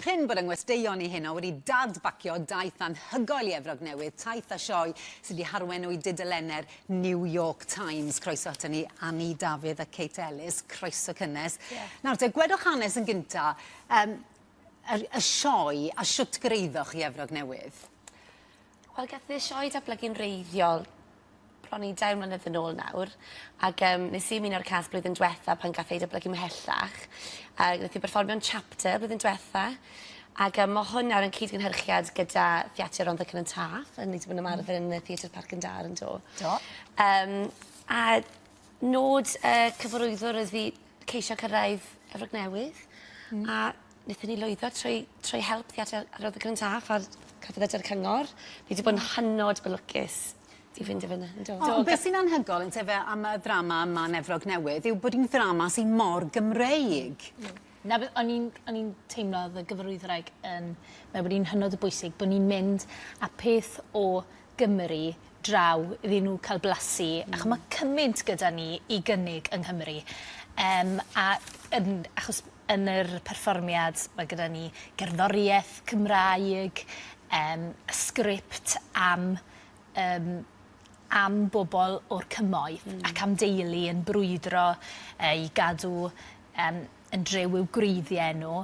Prin bod yng ngwesteion i heno wedi dad-bacio daith anhygoel i Efrog Newydd, taith a sioe sydd wedi harwenu i dudalenne'r New York Times. Croeso aton ni Annie Dafydd a Kate Ellis, croeso cynnes. Diolch. Nawr te, gwedwch hanes yn gynta, yym, yr, y sioe a shwt gyreuddoch i Efrog Newydd? Wel gath e sioe datblygu'n wreiddiol bron i dair mlynedd yn ôl nawr ag yym nes i ymuno â'r cast blwyddyn dwetha pan gath ei datblygu mhellach a nath 'i berfformio'n Chapter blwyddyn dwetha ag yym ma' hwn nawr yn cyd-gynhyrchiad gyda Theatr Rondda Cynon Taf a ni 'di bod yn ymarfer yn y Theatr Parc yn Dar yndo? Do. Yym a nod y cyfarwyddwr oedd i ceisio cyrraedd Efrog Newydd. Hmm. A Nethon ni lwyddo trwy trwy help Theatr yr Adran Cyntaf a'r Celfyddydau a'r Cyngor. Ni 'di bod yn hynod o lwcus i fynd i fynna. Yndw. Do. O be' sy'n anhygol yntefe am y ddrama yma yn Efrog Newydd yw bod 'i'n ddrama sy mor Gymreig. Hmm. Hmm. 'Na beth o'n i'n o'n i'n teimlo o'dd y gyfarwyddwraig yn me'wl bod 'i'n hynod o bwysig bo' ni'n mynd â peth o Gymru draw iddyn nhw cael blasu. Mm. Achos mae cymaint gyda ni i gynnig yng Nghymru. Um, a yn, achos yn yr perfformiad mae gyda ni gerddoriaeth Cymraeg, um, sgript am um, am bobl o'r cymoedd mm. ac am deulu yn brwydro uh, i gadw um, yn drew i'w gwreiddiau nhw.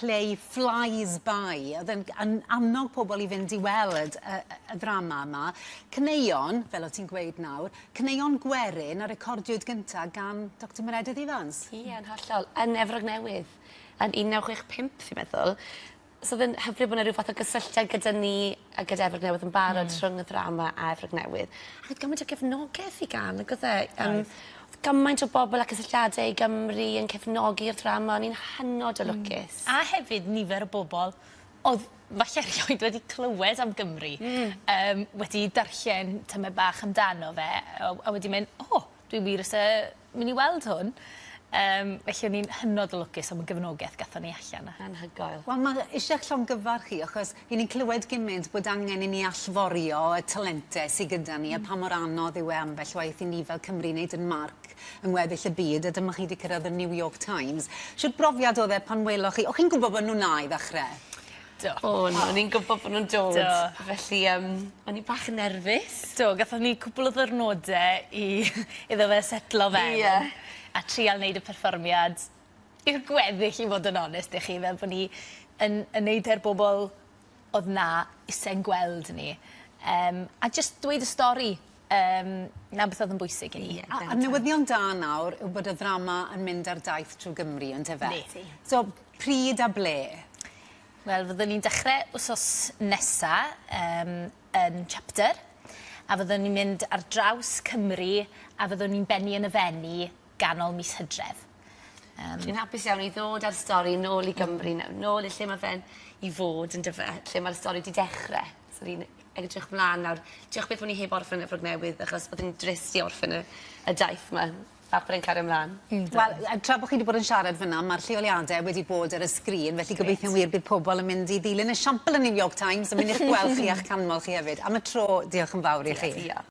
play flies by. Oedd e'n yn annog pobl i fynd i weld y, y, y ddrama yma. Caneuon, fel o ti'n gweud nawr, caneuon gwerin a recordiwyd gyntaf gan Dr Meredydd Evans. Ie, yn hollol. Yn Efrog Newydd, yn 1965, fi'n meddwl. So oedd e'n hyfryd bod yna rhyw fath o gysylltiad gyda ni a gyda Efrog Newydd yn barod... Hmm. ...rhwng y ddrama a Efrog Newydd ac o'dd gymaint o gefnogeth i gân ag o'dd e yym... Oedd. ...o'dd gymaint o bobol a cysylltiade i Gymru yn cefnogi'r ddrama o'n i'n hynod o lwcus. Hmm. A hefyd nifer o bobol o'dd falle erioed wedi clywed am Gymru. Hmm. Yym wedi darllen tymed bach amdano fe a a wedi myn' o dwi wir isie Myn' i weld hwn yym felly o'n i'n hynod o lwcus am y gefnogeth gathon ni allan a... Anhygoel. Wel ma' isie 'ych llongyfarch chi achos 'yn ni'n clywed gymint bod angen i ni allforio y talente sy gyda ni a pa mor anodd yw e ambell waith i ni fel Cymry neud 'yn marc yng ngweddill y byd a dyma chi 'di cyrradd y New York Times. Shwt brofiad o'dd e pan weloch chi, o' chi'n gwbo bo' nw'n 'na i ddechre? Do. O'n. O'n i'n gwbo bo' nw'n dod. Do. Felly yym o'n i bach yn nerfus. Do gathon ni cwpwl o ddyrnode i iddo fe setlo fewn. Ie. A trial neud y perfformiad i'r gweddill i fod yn onest 'da chi fel bo' ni yn yn neud e'r bobol odd 'na ise'n gweld ni yym a jyst dweud y stori yym 'na beth odd yn bwysig i ni. Ie bendant. A a newyddion da nawr yw bod y ddrama yn mynd ar daith trw Gymru on'd yfe? Ydi. So Pryd a ble? Wel fyddwn ni'n dechre wsos nesa yym yn Chapter a fyddwn ni'n mynd ar draws Cymru a fyddwn ni'n bennu yn y Fenni ganol mis Hydref. Yym. Dwi'n hapus iawn i ddod a'r stori nôl i Gymru naw- nôl i lle ma' fe'n i fod yndyfe? Lle ma'r stori 'di dechre. So fi'n edrych mlan nawr. Diolch byth bo' ni heb orffen Efrog Newydd achos bod e'n drist i orffen y y daith 'ma. Papur yn cario mlan. Yndw. Wel yy tra bo' chi 'di bod yn siarad fyn 'na ma'r lleoliade wedi bod ar y sgrin felly gobeithio'n wir bydd pobol yn mynd i ddilyn esiampl y New York Times a myn' i'ch gweld chi a'ch canmol chi hefyd. Am y tro diolch yn fawr i chi. Diolch.